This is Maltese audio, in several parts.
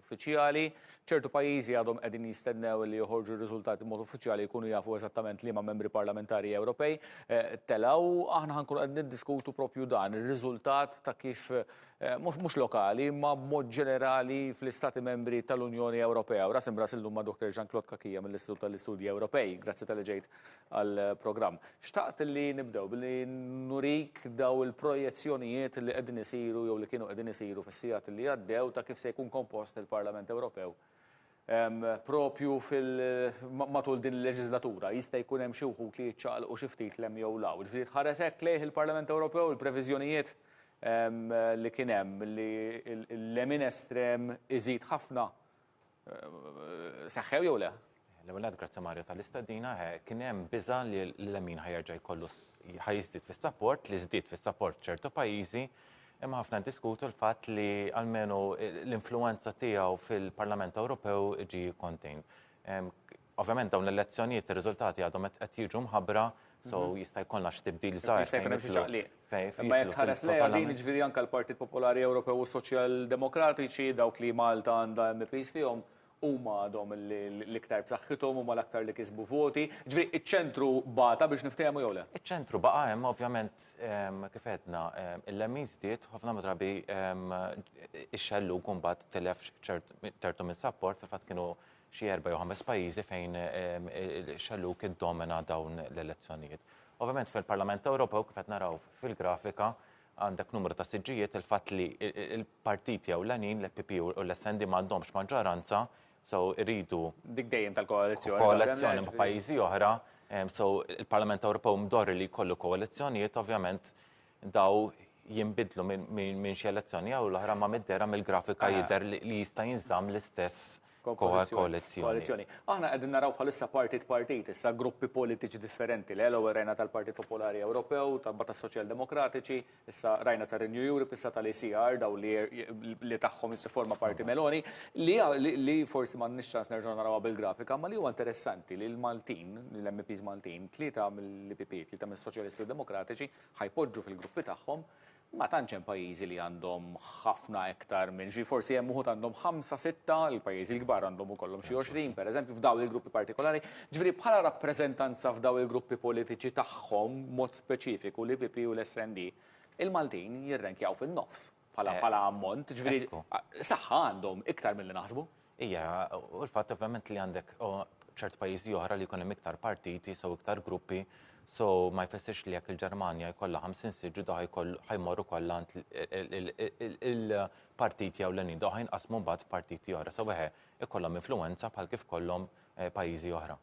uffiċjali. Ċertu pajjiżi għadhom qegħdin jistennew li joħorġu r-riżultati b'mod uffiċjali jkunu jafu eżattament liema membri parlamentari Ewropej eh, telaw. Aħna ħankunu qed niddiskutu propju dan ir-riżultat ta' kif eh, mhux lokali ma b'mod ġenerali fl-istati membri tal-Unjoni Ewropea. U rasim ras illum ma' Dr. Jean-Claude Kakija mill-Istitut tal-Istudji Ewropej. Grazzi tal-ġejt għall-programm. Xtaqt li nibdew billi nurik daw il-projezzjonijiet li qegħdin isiru jew li kienu qegħdin isiru fis-sigħat li għaddew ta' kif se jkun kompost il-Parlament Ewropew propju matul din il-leġislatura jista' jkun hemm xi wħud li jiċċaqalqu xi ftit lem jew law. Ġifieri tħares hekk lejh il-Parlament Ewropew il-previżjonijiet li kien hemm li l-lemin estrem iżid ħafna Seħħew jew le? L-ewwel nett grazzi Mario tal-istedina, kien hemm biża' li l-lemin ħajerġa' jkollu ħajiżdied fis-sapport li żdied fis-sapport ċertu pajjiżi, imma ħafna diskutu l-fatt li almenu l-influenza tiegħu fil-Parlament Ewropew ġi kontin. Ovvjament dawn l-elezzjonijiet ir-riżultati għadhom qed qed jiġu mħabbra, so jista' jkollna xi tibdil żgħar. Jista' jkun hemm xi ċaqliq. Imma jekk tħares lejha din jiġifieri anke l-Partit Popolari Ewropew u s-Soċjal Demokratiċi dawk li Malta għandha MEPs fihom huma għadhom l-iktar b'saħħithom huma l-aktar li kisbu voti. Ġifieri iċ-ċentru bata biex niftehmu jew le? Iċ-ċentru baqa' hemm ovvjament kif għedna il-lemin żdied ħafna drabi ix-xellug imbagħad tilef ċertu mis-sapport fil-fatt kienu xi erba' jew ħames pajjiżi fejn xellug iddomina dawn l-elezzjonijiet. Ovvjament fil-Parlament Ewropew kif qed naraw fil-grafika għandek numru ta' siġġijiet il-fatt li il-partiti jew l-għanin l-PP u l-SND ma għandhomx maġġoranza so rridu dik dejjem tal-koalizzjoni. Koalizzjoni ma' pajjiżi oħra, so il-Parlament Ewropew mdorri li jkollu koalizzjonijiet ovvjament dawn jinbidlu minn xi elezzjoni jew l-oħra ma middera mill-grafika ah. jidher li jista' jinżamm l-istess koalizzjoni. Aħna qegħdin naraw bħalissa partit partit, issa gruppi politiċi differenti, l ewwel rajna tal-Partit Popolari Ewropew, tal-Bat tas-Soċjal Demokratiċi, issa rajna ta' Renew Europe, issa tal-ECR daw li tagħhom forma parti Meloni, li forsi ma nix ċans nerġgħu narawha bil-grafika, ma li huwa interessanti li l-Maltin, l-MPs Maltin, tlieta mill-PP, tlieta mis-Soċjalisti Demokratiċi, ħa jpoġġu fil-gruppi tagħhom, ma tantx hemm pajjiżi li għandhom ħafna iktar minn xi, forsi hemm uħud għandhom ħamsa, sitta, il-pajjiżi l-kbar għandhom ukollhom xi 20, pereżempju, f'dawn il-gruppi partikolari. Ġifieri bħala rappreżentanza f'dawn il-gruppi politiċi tagħhom, mod speċifiku l-IPP u l-SND, il-Maltin jirrenkjaw fin-nofs. bħala bħala ammont, ġifieri saħħa għandhom iktar milli naħsbu. Ija, u l-fatt ovvjament li għandek ċert pajjiżi oħra li jkun hemm iktar partiti, so iktar gruppi, so ma jfessirx li jekk il-Ġermanja jkollha 50 siġġu daħ ħajmorru kollha il-partiti jew l-għanin daħ jinqasmu mbagħad f'partiti oħra. So weħe ikollhom influenza bħal kif kollhom eh, pajjiżi oħra.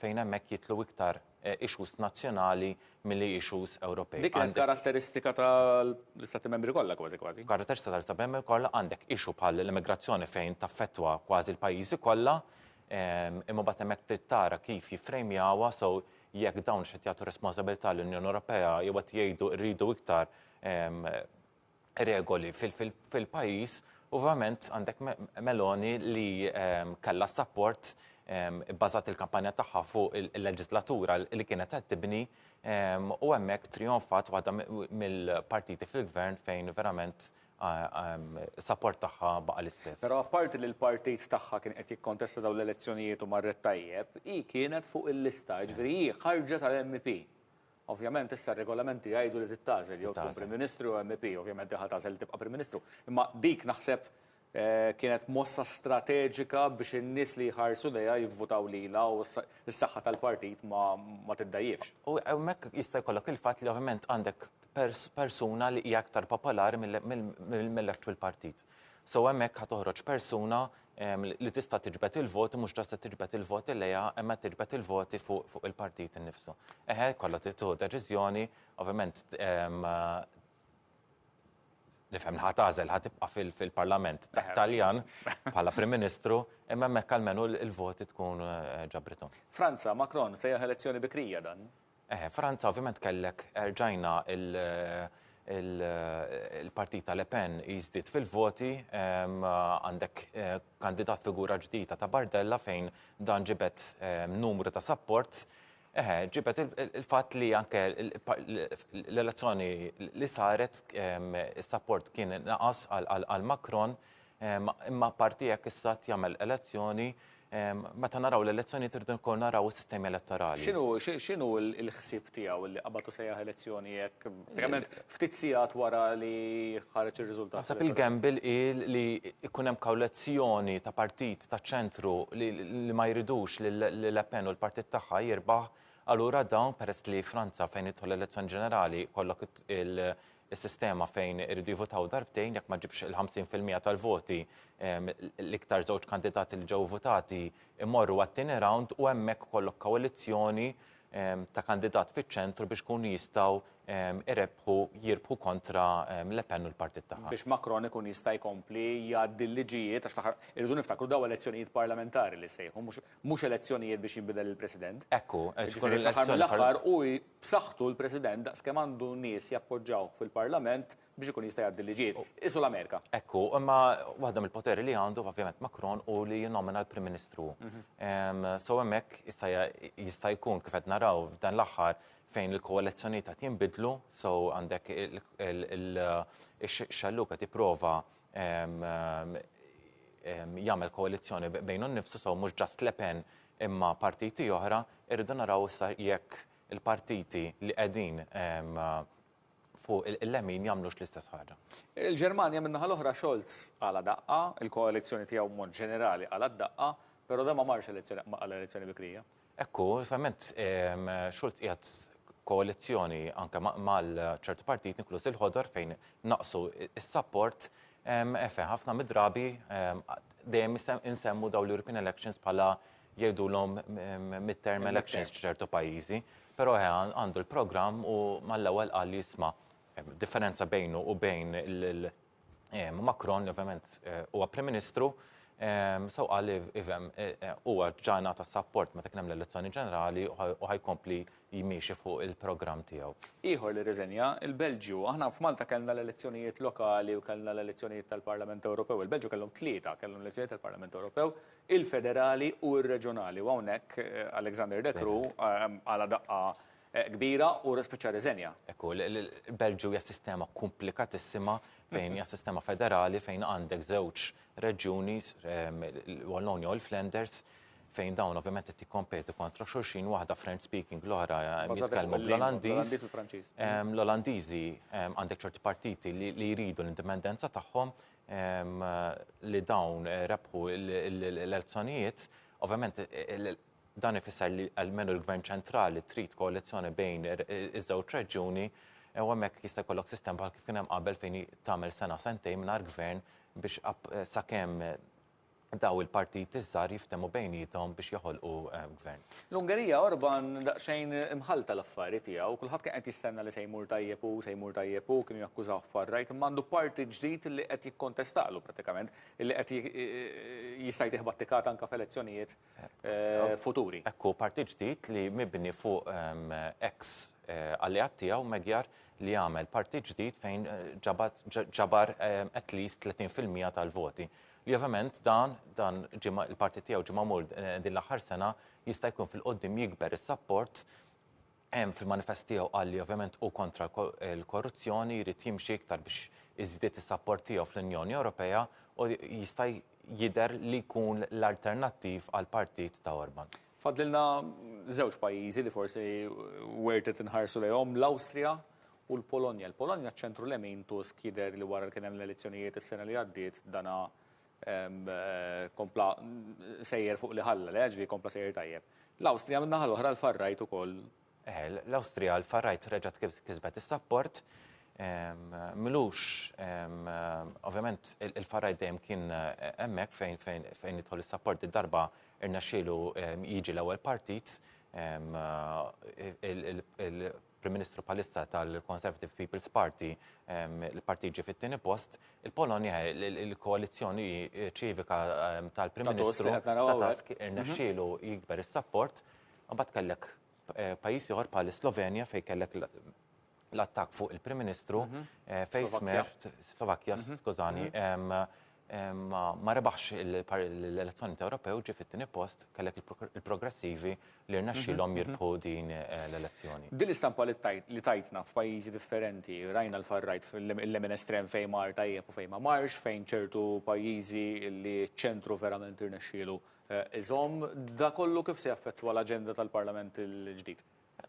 fejn hemmhekk jidħlu iktar issues nazzjonali milli issues Ewropej. Dik hija karatteristika tal-Istati Membri kollha kważi kważi. Karatteristika tal-Istati Membri kollha għandek issue bħal l-immigrazzjoni fejn taffettwa kważi l-pajjiżi kollha, ehm, imma bad hemmhekk trid tara kif jiffrejmjawha so jekk dawn x'qed jagħtu responsabilità l-Unjoni Ewropea jew qed jgħidu rridu iktar ehm, regoli fil-pajjiż u verament għandek Meloni li ehm, kellha s-sapport ehm, bbażat il-kampanja tagħha fuq il-leġislatura li kienet qed tibni ehm, u hemmhekk trionfat waħda mill-partiti fil-gvern fejn verament sapport tagħha baqa' l-istess. Però apparti li l-partit tagħha kien qed jikkontesta dawn l-elezzjonijiet u marret tajjeb, hi kienet fuq il-lista, ġifieri hi ħarġet tal-MP. Ovvjament issa r-regolamenti jgħidu li tittażel jew tkun Prim Ministru jew MEP, ovvjament diħa tażel li tibqa' Prim Ministru. Imma dik naħseb eh, kienet mossa strateġika biex in-nies li jħarsu lejha jivvutaw lilha u s-saħħa tal-partit ma tiddajjifx. U hemmhekk jista' jkollok il-fatt li ovvjament għandek persuna li hija aktar popolari mill-actual partit. So hemmhekk ħa toħroġ persuna li tista' tiġbed il-voti mhux ġasta tiġbed il-voti lejha imma tiġbed il-voti fuq il-partit innifsu. Eħe, kollha tittu deċiżjoni, ovvjament nifhem ħadd għażel ħadd tibqa' fil-Parlament Taljan bħala Prim Ministru, imma hemmhekk almenu l-voti tkun eh, ġabrithom. Franza, Macron se elezzjoni bikrija dan. Eħe, Franza ovvjament kellek erġajna il-partit ta' Le Pen jiżdied fil-voti, għandek kandidat figura ġdida ta' Bardella fejn dan ġibet numru ta' support, eħe, ġibet il-fatt li anke l-elezzjoni li saret is-support kien naqas għal Macron, Imma apparti hekk is-stat jagħmel elezzjoni, meta naraw l-elezzjoni trid ukoll naraw is-sistemi elettorali. X'inhu l-ħsieb tiegħu li qabad u sejjaħ elezzjoni hekk trement ftit sigħat wara li ħareġ ir-riżultat? Naħseb il-gamble hi li jkun hemm kawlezzjoni ta' partit ta' ċentru li ma jridux li Le Pen u l-partit tagħha jirbaħ, allura dawn peress li Franza fejn jidħol l-elezzjoni ġenerali kollok is-sistema fejn iridu jivutaw darbtejn jekk ma ġibx il-50 fil-mija tal-voti ehm, l-iktar żewġ kandidati li ġew votati imorru għat-tieni round u hemmhekk kollok koalizzjoni ehm, ta' kandidat fiċ-ċentru biex kun jistgħu ehm, irebħu jirbħu kontra Le Pen u l-partit tagħha. Biex Macron ikun jista' jkompli jgħaddi l-liġijiet għax taħar irridu niftakru daw elezzjonijiet parlamentari li sejħu mhux elezzjonijiet biex jinbidel il-President. Ekku, ġifieri l-aħħar u b'saħħtu l-President daqs kemm għandu nies jappoġġawh fil-Parlament biex ikun jista' jgħaddi l-liġijiet. Qisu l-Amerika. Hekk hu, imma waħda mill-poteri li għandu ovvjament Macron hu li jinnomina l-Prim Ministru. Ehm, so hemmhekk issa jista' jkun kif qed naraw f'dan l-aħħar fejn il-koalizzjonijiet qed jinbidlu, so għandek il-xalluk qed jipprova jagħmel koalizzjoni bejnu nnifsu sew mhux ġast Le Pen imma partiti oħra, irridu naraw issa jekk il-partiti li qegħdin fuq il-lemin jagħmlux l-istess ħaġa. Il-Ġermanja min-naħa l-oħra Scholz għala daqqa, il-koalizzjoni tiegħu mod ġenerali għala daqqa, però dan ma marx elezzjoni għal elezzjoni bikrija. Hekk hu, ovvjament Schulz qiegħed koalizzjoni anke mal ċertu partit inkluż il-ħodor fejn naqsu s-sapport fejn ħafna mid-drabi dejjem insemmu daw l-European elections bħala jgħidulhom mid-term elections ċertu pajjiżi, però għandu l-programm u mal-ewwel qal li jisma' differenza bejnu u bejn Macron li ovvjament huwa Prim Ministru so qal li ifhem huwa ġa ngħata s-sapport meta kien hemm l-elezzjoni ġenerali u ħajkompli jmiexi fuq il-programm tiegħu. Ieħor li rriżenja, il-Belġju. Aħna f'Malta kellna l-elezzjonijiet lokali u kellna l-elezzjonijiet tal-Parlament Ewropew. Il-Belġju kellhom tlieta, kellhom l-elezzjonijiet tal-Parlament Ewropew, il-federali u r-reġjonali u hawnhekk Alexander De Croo għala daqqa kbira u spiċċa rriżenja. Hekk hu, il-Belġju hija sistema komplikatissima fejn hija sistema federali fejn għandek żewġ reġjuni, l-Wallonia u l-Flanders, fejn dawn ovvjament qed jikkompetu kontra xulxin, waħda French speaking, l-oħra jitkellmu bl-Olandiż. L-Olandiżi għandek ċerti partiti li jridu l-indipendenza tagħhom li dawn rebħu l-elezzjonijiet, ovvjament Dan ifisser li almenu l-Gvern ċentrali trid koalizzjoni bejn iż-żewġ reġjuni u hemmhekk jista' jkollok sistema bħal kif kien hemm qabel fejn tagħmel sena sentejn mingħajr gvern biex sakemm daw il-partiti żgħar jiftehmu bejniethom biex joħolqu eh, gvern. L-Ungerija Orban daqsxejn imħalta l-affari tiegħu, kulħadd kien qed jistenna li se jmur tajjeb u se jmur tajjeb u kienu jakkużaw far-rajt imma għandu parti ġdid li qed jikkontestalu pratikament, li qed jista' jtieħ battikat anke f'elezzjonijiet futuri. Ekku partit ġdid li mibni fuq ex alleat tiegħu Magyar li għamel partit ġdid fejn ġabar at least 30% tal-voti. Li ovvjament dan dan il-partit tiegħu ġimgħa mur din l-aħħar sena jista' jkun fil-qoddim jikber is-sapport Fil-manifest tiegħu qal li ovvjament hu kontra l-korruzzjoni jrid jimxi iktar biex iżdied is-sapport tiegħu fl-Unjoni Ewropea u jista' jidher li jkun l-alternattiv għall-partit ta' Orban. Fadlilna żewġ pajjiżi li forsi wert qed inħarsu lejhom, l-Awstrija u l-Polonja. Il-Polonja ċ-ċentru lemin Tusk jidher li wara li kien hemm l-elezzjonijiet is-sena li għaddiet dana kompla sejjer fuq li ħalla, le, ġvi kompla sejjer tajjeb. L-Awstrija minn naħa l-oħra l-farrajt ukoll. Eh, l-Awstrija l-farrajt reġgħet kisbet is-sapport. Mlux, ovvjament il-farrajt dejjem kien eh, hemmhekk fejn fejn fejn jidħol is-sapport id-darba irnexxielu jiġi l-ewwel partit eh, Prim Ministru bħalissa tal-Conservative People's Party, il-partit ġie fit-tieni post, il-Polonja il-koalizzjoni ċivika tal-Prim Ministru ta' Tusk irnexxielu jikber is-sapport, mbagħad kellek eh, pajjiż ieħor bħal Slovenja fejn kellek l-attak fuq il-Prim Ministru mhm. eh, fejn smert Slovakkja, mhm. skużani, mhm. ma rebaħx l-elezzjoni ta' Ewropew ġie fit-tieni post kellek il-progressivi li rnexxilhom mhm, mhm. jirbħu din eh, l-elezzjoni. Din l-istampa li tajtna f'pajjiżi differenti, rajna l-farrajt fil-lemin estrem fejn mar tajjeb u fejn ma marx, fejn ċertu pajjiżi li ċentru verament irnexxielu eh, iżom, da kollu kif se jaffettwa l-aġenda tal-Parlament il-ġdid?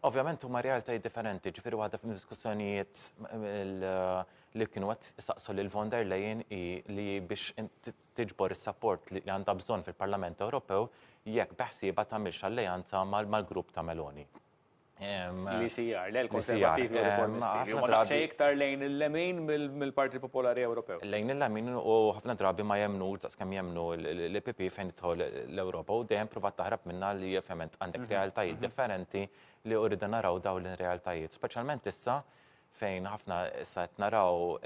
Ovvjament huma realtajiet differenti, ġifieri waħda fid-diskussjonijiet li kienu qed saqsu lil von der Leyen hi li biex tiġbor is-sapport li għandha bżonn fil-Parlament Ewropew jekk beħsieba tagħmilx alleanza mal-grupp ta' Meloni. L-ICR, le l-Konservativi u Reformisti. Ma naqxa iktar lejn il-lemin mill-Parti Popolari Ewropew. Lejn il-lemin u ħafna drabi ma jemnu, daqskemm jemnu l-PP fejn idħol l-Ewropa u dejjem provat taħrab Għalna li ovvjament għandek realtajiet differenti li urridu naraw daw l-realtajiet, speċjalment issa fejn ħafna issa qed naraw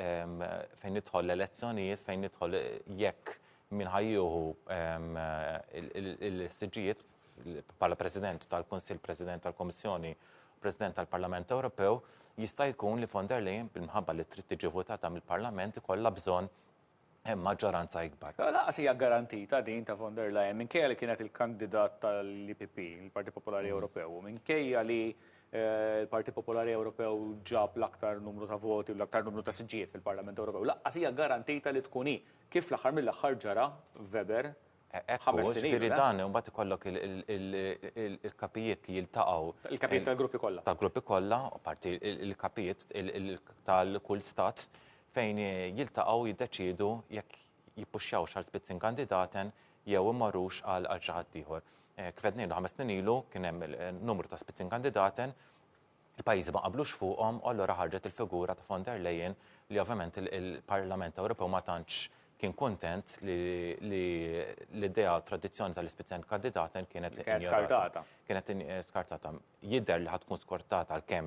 fejn nidħol l-elezzjonijiet, fejn nidħol jekk min ħajjuhu il-siġijiet bħala President tal-Kunsill, President tal-Komissjoni, President tal-Parlament Ewropew, jista' jkun li von der Leyen bil-mħabba li trid tiġi votata mill-Parlament ikollha bżonn hemm maġġoranza ikbar. Lanqas hija garantita din ta' von der Leyen minkejja li kienet il-kandidat tal-IPP, il-Partit Popolari mm. Ewropew, u minkejja li eh, l-Partit Popolari Ewropew ġab l-aktar numru ta' voti u l-aktar numru ta' siġġijiet fil-Parlament Ewropew. Lanqas hija garantita li tkun hi kif l-aħħar mill-aħħar ġara Weber Ekku, ġifiri dan, un bat ikollok il-kapijiet li jiltaqaw. Il-kapijiet tal-gruppi kolla. Tal-gruppi kolla, parti il-kapijiet tal-kull stat, fejn jiltaqaw jiddeċidu jekk jippuxxaw xal spitzin kandidaten jew immarrux għal xaħat tiħor. Kfednejlu ħames snin ilu kien hemm numru ta' spitzin kandidaten il-pajjiżi ma qablux fuqhom u allura ħarġet il-figura ta' von der Leyen li ovvjament il-Parlament Ewropew ma tantx kien kuntent li l-idea tradizzjoni tal-ispizzjoni kandidaten kienet skartata. Kienet skartata. Jidher li ħatkun skortata għalkemm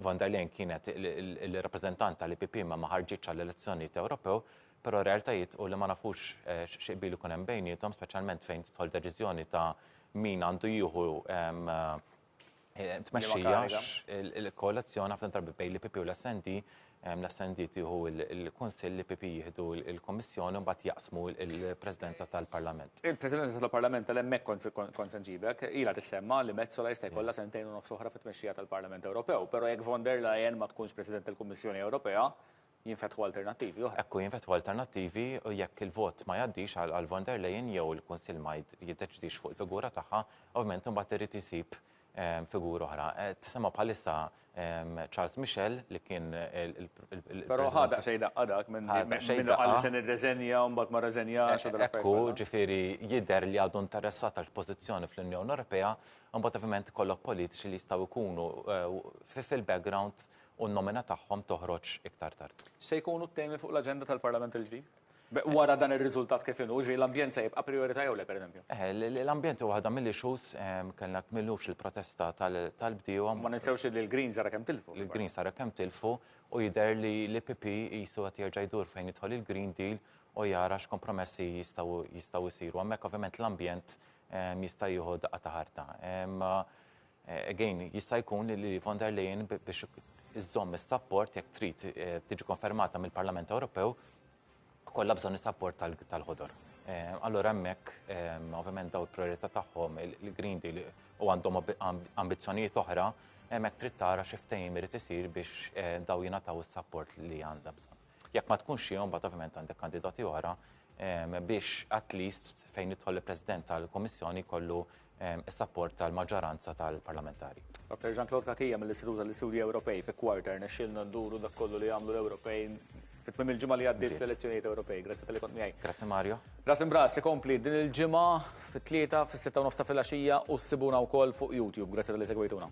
von der Leyen kienet il-rappreżentanta li PP ma ħarġitx għall-elezzjonijiet Ewropew Però r-realtajiet hu li ma nafux xi qbil ikun hemm bejniethom, speċjalment fejn tidħol deċiżjoni ta' min għandu jieħu tmexxija il-koalizzjoni ħafna drabi bejn l-IPP u l-SND, l-SND tieħu l-Kunsill, l-IPP jieħdu l-Kummissjoni u mbagħad jaqsmu l-Presidenza tal-Parlament. Il-Presidenza tal-Parlament tal-hemmhekk kont se nġibek, ilha tissemma li Metsola jista' jkollha sentejn u nofs oħra fit-tmexxija tal-Parlament Ewropew, però jekk von der Leyen ma tkunx President tal-Kummissjoni Ewropea, jinfetħu alternattivi oħra. Hekk hu jinfetħu alternattivi u jekk il-vot ma jgħaddix għal von der Leyen jew il-Kunsill ma jiddeċidix fuq il-figura tagħha, ovvjament imbagħad irid isib ehm, figura oħra. Eh, tisema' bħalissa ehm, Charles Michel li kien il Però ħadaq xejn daqqa dak minn għalli se nirreżenja u mbagħad ma rreżenjax u eh, Ekku, ġifieri jidher li għadu interessat għal pożizzjoni fl-Unjoni Ewropea, mbagħad ovvjament kollok politiċi li jistgħu jkunu eh, fil-background u n-nomina tagħhom toħroġ iktar tard. X'se jkunu t-temi fuq l-aġenda tal-Parlament il-ġdid? Wara dan ir-riżultat kif inhu, ġifieri l-ambjent se jibqa' prijorità jew le pereżempju? L-ambjent huwa waħda mill-issues, kellna kmilux il-protesta tal-bdiewa. Ma ninsewx li l-Greens ara kemm tilfu. Il-Greens ara kemm tilfu u jidher li l-EPP qisu qed jerġa' jdur fejn jidħol il-Green Deal u jara x'kompromessi jistgħu jsiru. Hemmhekk ovvjament l-ambjent jista' jieħu daqqa ta' ħarta. Again, jista' jkun li Lili von der Leyen biex iżżomm is-sapport jekk trid eh, tiġi konfermata mill-Parlament Ewropew kollha bżonn is-sapport tal-ħodor. Eh, allora hemmhekk eh, ovvjament daw il-priorità tagħhom il-Green Deal u għandhom ambizzjonijiet oħra hemmhekk trid tara xi ftehim irid isir biex daw jingħataw is-sapport li għandha bżonn. Jekk ma tkunx xi mbagħad ovvjament għandek kandidati oħra ehm, biex at least fejn jidħol il-President tal-Komissjoni kollu ehm, is-sapport tal-maġġoranza tal-parlamentari. Dr. Jean-Claude Kakija mill-Istitut tal-Istudji Ewropej fi kwarter nexxilna nduru dak kollu li għamlu l-Ewropej fit-tmim il-ġimgħa li għaddiet fl-elezzjonijiet Ewropej. Grazzi tal kont miegħi. Grazzi Mario. Ras imbras ikompli din il-ġimgħa fit-tlieta fis-sitta u nofs ta' filgħaxija u ssibuna wkoll fuq YouTube. Grazzi tal-li segwejtuna.